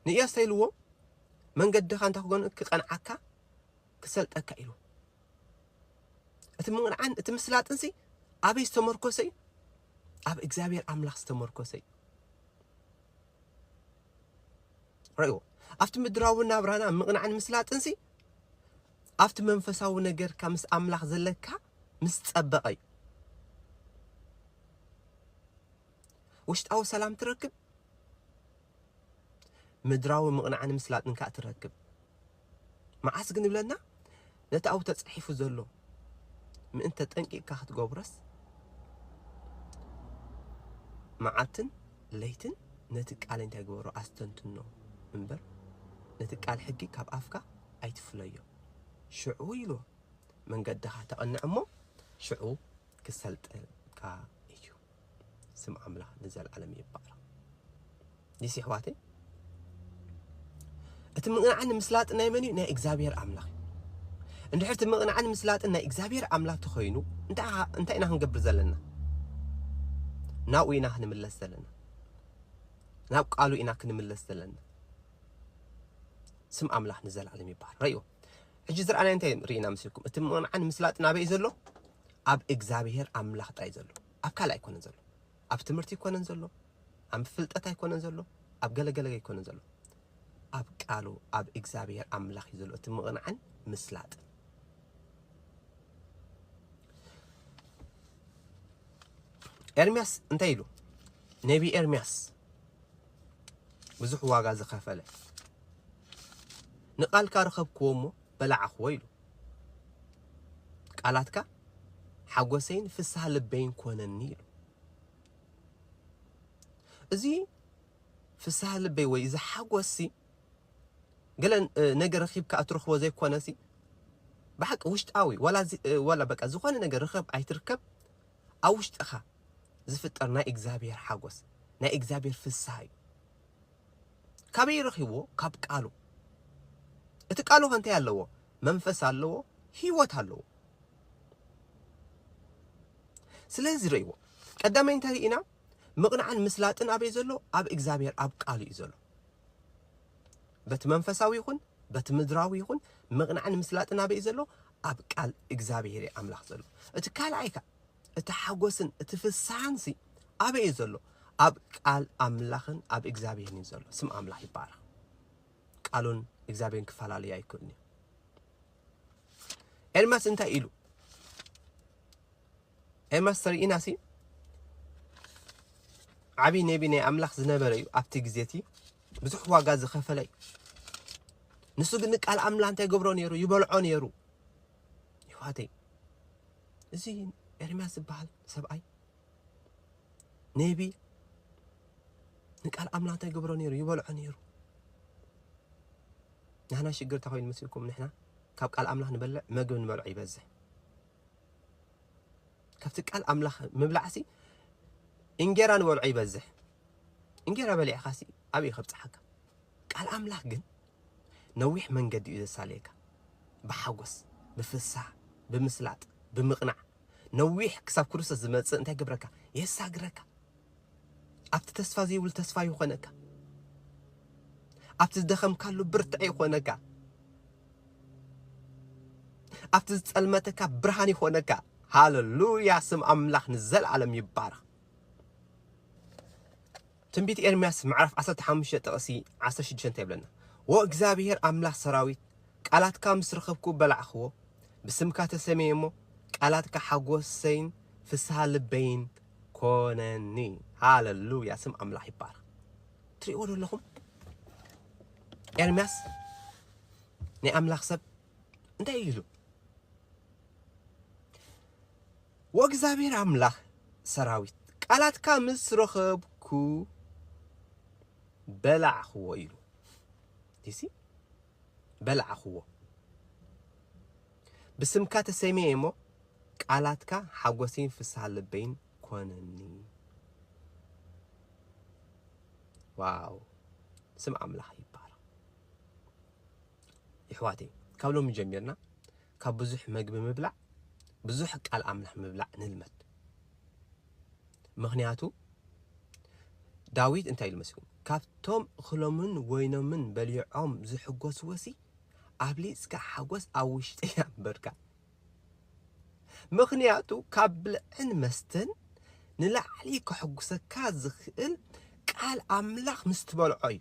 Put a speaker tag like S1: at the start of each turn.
S1: ንኢያሱ እንታይ ኢልዎ? መንገድኻ እንታይ ክጎን ክቐንዓካ ክሰልጠካ ኢሉ። እቲ ምቕንዓን እቲ ምስላጥንሲ ኣበይ ዝተመርኮሰ እዩ? ኣብ እግዚኣብሔር ኣምላኽ ዝተመርኮሰ እዩ። ረእዎ ኣብቲ ምድራዊ ናብራና ምቕናዕን ምስላጥንሲ ኣብቲ መንፈሳዊ ነገርካ ምስ ኣምላኽ ዘለካ ምስ ጸበቐ እዩ ውሽጣዊ ሰላም ትረክብ ምድራዊ ምቕናዕን ምስላጥን ከኣ ትረክብ። መዓስ ግን እብለና ነቲ ኣብኡ ተጻሒፉ ዘሎ ምእንተ ጠንቂቕካ ክትገብሮስ መዓልትን ለይትን ነቲ ቃል እንታይ ግበሮ ኣስተንትኖ እምበር ነቲ ቃል ሕጊ ካብ ኣፍካ ኣይትፍለዮ ሽዑ ኢሉ መንገድኻ ተቐንዕ እሞ ሽዑ ክሰልጠልካ እዩ። ስም ኣምላኽ ንዘለዓለም ይባረኽ። ዲስ ይሕዋተይ እቲ ምቕናዕን ምስላጥን ናይ መን እዩ? ናይ እግዚኣብሔር ኣምላኽ እዩ። እንድሕር እቲ ምቕናዕን ምስላጥን ናይ እግዚኣብሔር ኣምላኽ ተኾይኑ እንታይ ኢና ክንገብር ዘለና? ናብኡ ኢና ክንምለስ ዘለና። ናብ ቃሉ ኢና ክንምለስ ዘለና። ስም ኣምላኽ ንዘለዓለም ይባረኽ። ሕጂ ዝረኣናዮ እንታይ ርኢና መስልኩም? እቲ ምቕንዓን ምስላጥን ኣበይ እዩ ዘሎ? ኣብ እግዚኣብሄር ኣምላኽ ጥራይ እዩ ዘሎ። ኣብ ካልእ ኣይኮነን ዘሎ። ኣብ ትምህርቲ ኣይኮነን ዘሎ። ኣብ ፍልጠት ኣይኮነን ዘሎ። ኣብ ገለገለ ኣይኮነን ዘሎ። ኣብ ቃሉ ኣብ እግዚኣብሄር ኣምላኽ እዩ ዘሎ እቲ ምቕንዓን ምስላጥን። ኤርሚያስ እንታይ ኢሉ? ነቢ ኤርሚያስ ብዙሕ ዋጋ ዝኸፈለ ንቃልካ ረኸብክዎ እሞ በላዕኽዎ ኢሉ ቃላትካ ሓጎሰይን ፍስሃ ልበይን ኮነኒ ኢሉ እዚ ፍስሃ ልበይ ወይ እዚ ሓጎስሲ ገለ ነገር ረኺብካ እትረኽቦ ዘይኮነሲ ብሓቂ ውሽጣዊ ዋላ በቃ ዝኾነ ነገር ርኸብ ኣይትርከብ ኣብ ውሽጥኻ ዝፍጠር ናይ እግዚኣብሔር ሓጎስ ናይ እግዚኣብሔር ፍስሃ እዩ። ካበይ ረኺብዎ ካብ ቃሉ እቲ ቃሉ ከ እንታይ ኣለዎ መንፈስ ኣለዎ ህይወት ኣለዎ። ስለዚ ረእይዎ ቀዳማይ እንታይ ርኢና ምቕናዕን ምስላጥን ኣበይ ዘሎ ኣብ እግዚኣብሔር ኣብ ቃሉ እዩ ዘሎ። በቲ መንፈሳዊ ይኹን በቲ ምድራዊ ይኹን ምቕናዕን ምስላጥን ኣበይ ዘሎ ኣብ ቃል እግዚኣብሄር እዩ ኣምላኽ ዘሎ። እቲ ካልኣይ ከኣ እቲ ሓጎስን እቲ ፍስሓንሲ ኣበይ እዩ ዘሎ? ኣብ ቃል ኣምላኽን ኣብ እግዚኣብሄርን እዩ ዘሎ። ስም ኣምላኽ ይባረኽ። ቃሉን እግዚኣብሄርን ክፈላለዩ ኣይክእሉን እዩ። ኤርምያስ እንታይ ኢሉ? ኤርምያስ ተርእናሲ ዓብዪ ነቢ ናይ ኣምላኽ ዝነበረ እዩ። ኣብቲ ግዜ እቲ ብዙሕ ዋጋ ዝኸፈለ እዩ። ንሱ ግን ንቃል ኣምላኽ እንታይ ገብሮ ነይሩ ይበልዖ ነይሩ ይዋተይ እዚ ኤርምያስ ዝበሃል ሰብኣይ ኔቢ ንቃል ኣምላኽ እንታይ ገብሮ ነይሩ ይበልዖ ነይሩ ንሕና ሽግር እንታይ ኮይኑ መስልኩም ንሕና ካብ ቃል ኣምላኽ ንበልዕ መግብ ንበልዖ ይበዝሕ ካብቲ ቃል ኣምላኽ ምብላዕሲ እንጌራ ንበልዖ ይበዝሕ እንጌራ በሊዕኻሲ ኣበይ ከብጽሓካ ቃል ኣምላኽ ግን ነዊሕ መንገዲ እዩ ዘሳልየካ ብሓጎስ ብፍስሃ ብምስላጥ ብምቕናዕ ነዊሕ ክሳብ ክርስቶስ ዝመጽእ እንታይ ይገብረካ የሳግረካ ኣብቲ ተስፋ ዘይብሉ ተስፋ ይኾነካ ኣብቲ ዝደኸምካሉ ብርትዐ ይኾነካ ኣብቲ ዝጸልመተካ ብርሃን ይኾነካ ሃለሉያ ስም ኣምላኽ ንዘለዓለም ይባረኽ ትንቢት ኤርምያስ ምዕራፍ ዓሰርተ ሓሙሽተ ጥቕሲ ዓሰርተ ሽዱሽተ እንታይ ይብለና? ወእግዚኣብሄር ኣምላኽ ሰራዊት ቃላትካ ምስ ረኸብኩ በላዕኽዎ፣ ብስምካ ተሰምየ እሞ ቃላትካ ሓጎሰይን ፍስሃ ልበይን ኮነኒ። ሃለሉያ ስም ኣምላኽ ይባረኽ። ትሪእዎ ዶ ኣለኹም? ኤርምያስ ናይ ኣምላኽ ሰብ እንታይ እዩ ኢሉ? ወእግዚኣብሔር ኣምላክ ሰራዊት ቃላትካ ምስ ረኸብኩ በላዕክዎ ኢሉ ዲሲ በላዕክዎ ብስምካ ተሰሚየ እሞ ቃላትካ ሓጎሰይን ፍስሃ ልበይን ኮነኒ ዋው ስም ኣምላኽ ይባረኽ ይሕዋተይ ካብ ሎሚ ጀሚርና ካብ ብዙሕ መግቢ ምብላዕ ብዙሕ ቃል ኣምላኽ ምብላዕ ንልመድ ምኽንያቱ ዳዊት እንታይ ኢሉ መሲሉ ካብቶም እኽሎምን ወይኖምን በሊዖም ዝሕጎስዎሲ ኣብሊጽካ ሓጎስ ኣብ ውሽጢ ኣንበርካ ምኽንያቱ ካብ ብልዕን መስተን ንላዕሊ ከሕጉሰካ ዝኽእል ቃል ኣምላኽ ምስ ትበልዖ እዩ